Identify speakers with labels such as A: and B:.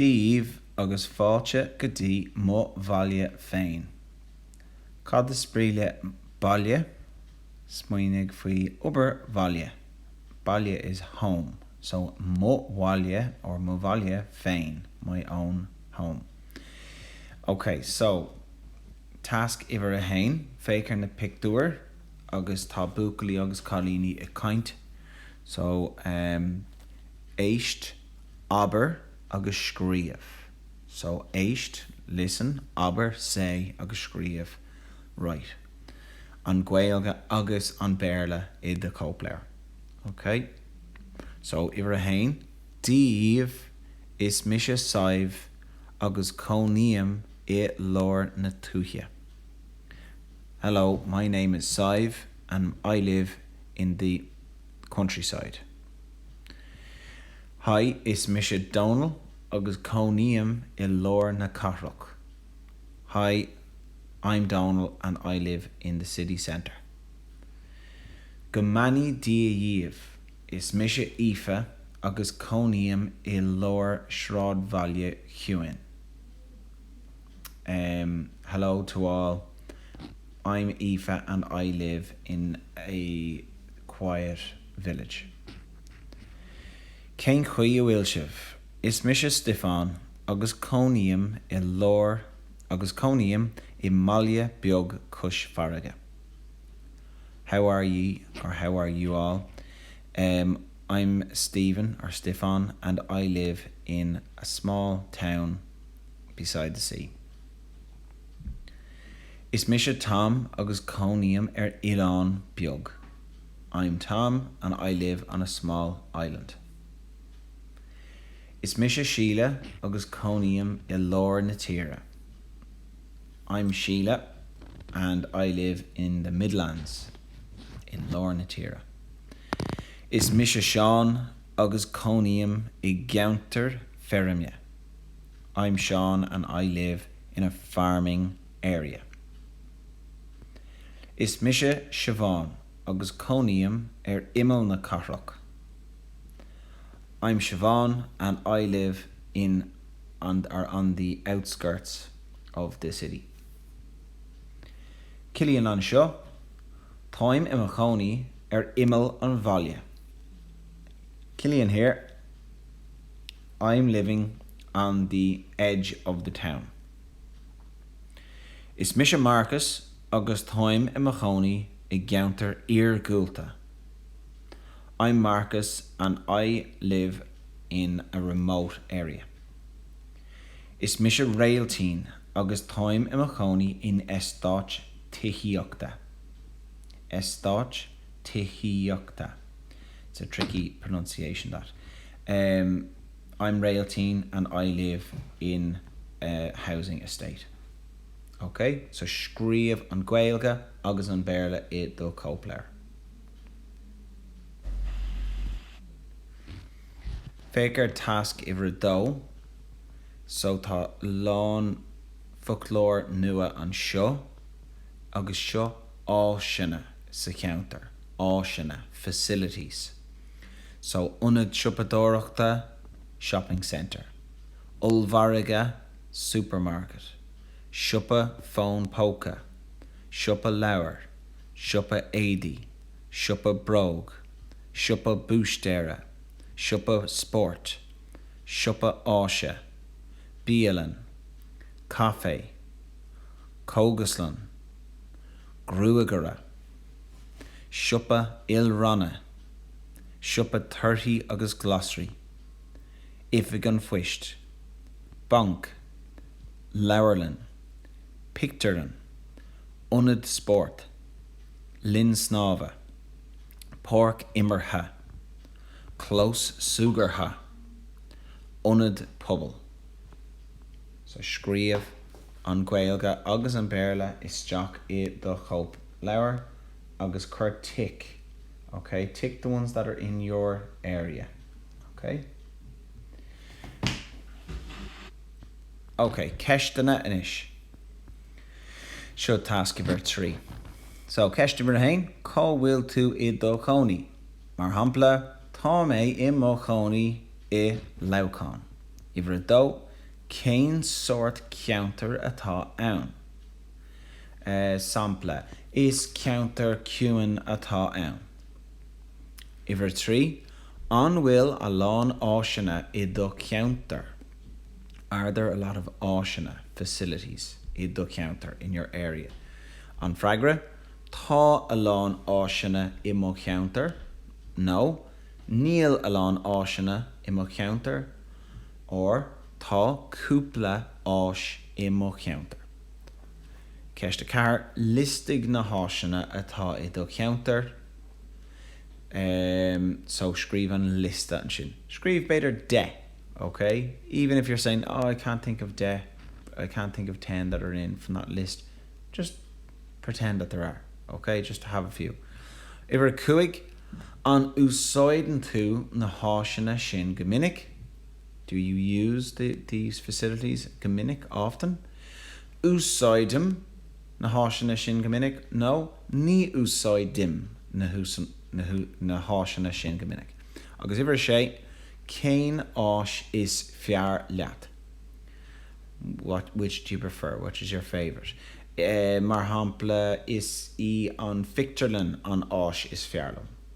A: daoibh agus fáilte go dtí mo bhaile féin. Cad is brí le baile? Smaoinigh faoi obair bhaile. Baile is home, so mo bhaile or mo bhaile féin my own home. Ok, so tasc uimhir a haon, féach ar na pictiúir agus tá buachaillí agus cailíní ag caint. So, em. éist, abair agus scríobh. So, éist, listen, abair, say, agus scríobh, write, an Ghaeilge agus an Béarla i do chóipleabhar. Ok? So, uimhir a haon, Dia daoibh, is mise Sadhbh agus cónaím i lár na tuaithe. Hello, my name is Sadhbh and I live in the. countryside. Haigh, is mise Dónall agus cónaím i lár na cathrach. Hi, I'm Dónall and I live in the city centre. Go mbeannaí Dia dhaoibh, is mise Aoife agus cónaím i lár sráidbhaile chiúin. Hello to all. I'm Aoife and I live in a quiet village. Cén chaoi a bhfuil sibh? Is mise Stiofán agus cónaím i lár agus cónaím i mbaile beag cois farraige. How are ye or how are you all? I'm Stephen or Stiofán and I live in a small town. Beside the Sea. Is mise Tom agus cónaím ar oileán beag. I'm Tom and I live on a small island. Is mise Síle agus cónaím i lár na tíre. I'm Síle and I live in the midlands, i lár na tíre. Is mise Seán agus cónaím i gceantar feirme. I'm Seán and I live in a farming area. Is mise Siobhán agus cónaím ar imeall na cathrach. I'm Siobhán and I live in or on the outskirts of the city. Cillian anseo, Táim i mo chónaí ar imeall an bhaile. Cillian here. I'm living on the edge of the town. Is mise Marcus agus táim i mo chónaí i gceantar iargúlta. I'm Marcus and I live in a remote area. Is mise Réiltín agus táim i mo chónaí in eastáit tithíochta. eastáit tithíochta. It's a tricky pronunciation that. I'm Réiltín and I live in a housing estate. Ok, so scríobh an Ghaeilge agus an Béarla i do chóipleabhar. Féach ar tasc uimhir a dó. So tá lán foclóir nua anseo agus seo áiseanna sa cheantar. áiseanna, facilities. So ionad siopadóireachta, shopping centre. Ollmhargadh, supermarket. Siopa fón póca. Siopa leabhar. Siopa éadaí. Siopa bróg. Siopa búistéara. Siopa spóirt. Siopa áise. Bialann. Caifé. Cógaslann. Gruagaire. siopa ilranna, siopa torthaí agus glasraí, oifig an phoist, banc, leabharlann, pictiúrlann, ionad spóirt, linn snámha, páirc imeartha, clós súgartha, ionad pobail. Sea, scríobh an Ghaeilge agus an Béarla isteach i do chóip. leabhar agus cuir tic OK. Tick the ones that are in your area OK. OK, ceisteanna anois. Seo tasc uimhir a trí. So, ceist uimhir a haon, cá bhfuil tú i do chónaí? Mar shampla, Tá mé i mo chónaí i Leamhcán. Uimhir a dó, cén sórt ceantar atá ann? sampla, is ceantar ciúin atá ann. Uimhir 3, An bhfuil a lán áiseanna i do cheantar? Are there a lot of áiseanna, facilities, i do cheantar? In your area? An freagra, Tá a lán áiseanna i mo cheantar. nó Níl a lán áiseanna i mo cheantar. or Tá cúpla áis i mo cheantar. Ceist 4, Liostaigh na háiseanna atá i do cheantar. em, so scríobh an liosta ansin. Scríobh b'fhéidir deich, okay? Even if you're saying, oh I can't think of deich, I can't think of ten that are in from that list, just pretend that there are, ok? Just to have a few. Uimhir a cúig, An úsáideann tú na háiseanna sin go minic? Do you use the, these, facilities? go minic, often? úsáidim na háiseanna sin go minic, nó ní úsáidim na, na, na háiseanna sin go minic. Agus uimhir a sé, cén áis is fearr leat? What, which, do you prefer? What is your favourite? Eh, mar shampla, is í an phictiúrlann an áis is fearr liom.